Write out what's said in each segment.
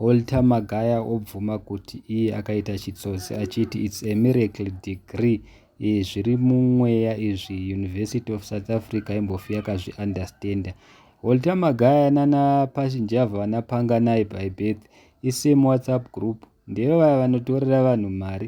Walter Magaya obvuma kuti iye akaita chitsotsi achiti its a miracle degree zviri mumweya izvi University of South Africa imbofi yakazviunderstander. Walter Magaya nana Pashinjava vanapanga naye by birth isame WhatsApp group ndivo vaya vanotorera vanhu mari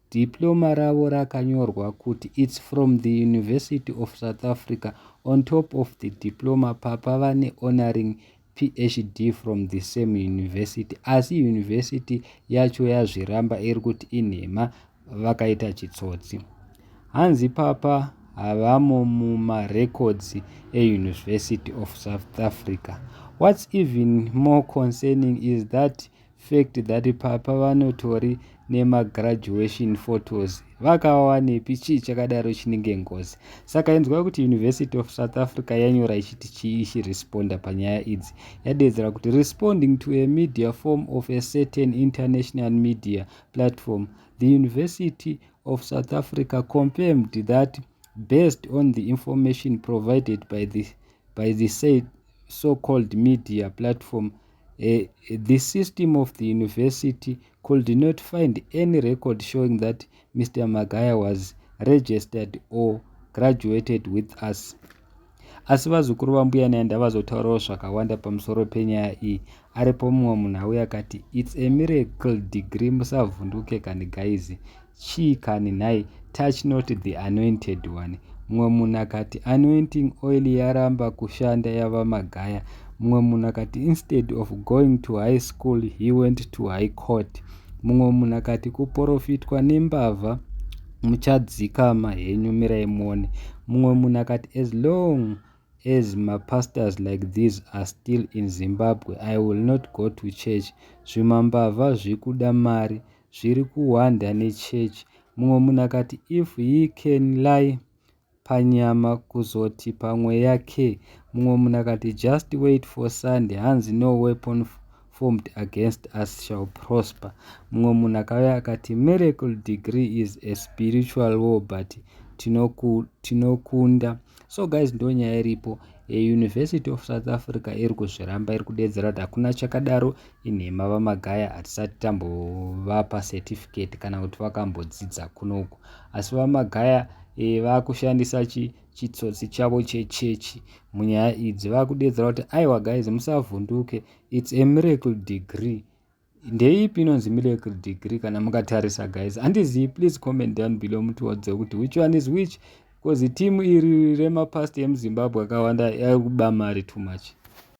Diploma ravo rakanyorwa kuti it's from the University of South Africa on top of the diploma papa vane honoring PhD from the same university asi university yacho yazviramba iri kuti inhema vakaita chitsotsi hanzi papa havamo mumarecords euniversity of south africa what's even more concerning is that fact that papa vanotori nemagraduation photos vakawawanepi chii chakadaro chinenge ngozi saka inzwa kuti university of south africa yanyora ichiti chii ichiresponda panyaya idzi yadedzera kuti responding to a media form of a certain international media platform the university of south africa confirmed that based on the information provided by the, by the said so-called media platform Uh, the system of the university could not find any record showing that Mr. Magaya was registered or graduated with us. Asi vazukuru vambuya Nyanda vazotaurawo zvakawanda pamusoro penyaya iyi. Aripo mumwe munhu auya akati, It's a miracle degree musavhunduke kani guys. Chii kani nhai? Touch not the anointed one. Mumwe munhu akati, Anointing oil yaramba kushanda yava magaya. Mumwe munhu akati, Instead of going to high school, he went to high court. Mumwe munhu akati, Kuporofitwa nembavha muchadzikama henyu mirai muone. Mumwe munhu akati, As long as mapastors like these are still in Zimbabwe, I will not go to church. Zvimambavha zvikuda mari zviri kuhwanda nechurch mumwe munhu akati if he can lie panyama kuzoti pamweya ke mumwe munhu akati just wait for sunday hanzi no weapon formed against us shall prosper mumwe munhu akauya akati miracle degree is a spiritual war but tinokunda tino so guys ndo nyaya iripo university of south africa iri kuzviramba iri kudeedzera kuti hakuna chakadaro inhema vamagaya hatisati tambovapa certificate kana kuti vakambodzidza kunoku asi vamagaya e, vakushandisa chi chitsotsi chavo chechechi munyaya idzi vakudeedzera kuti aiwa guys musavhunduke its a miracle degree ndeipi inonzi miracle degree kana mukatarisa guys handizii please comment down below mutiodze kuti which one is which because team iri remapast emuzimbabwe akawanda yakuba mari too much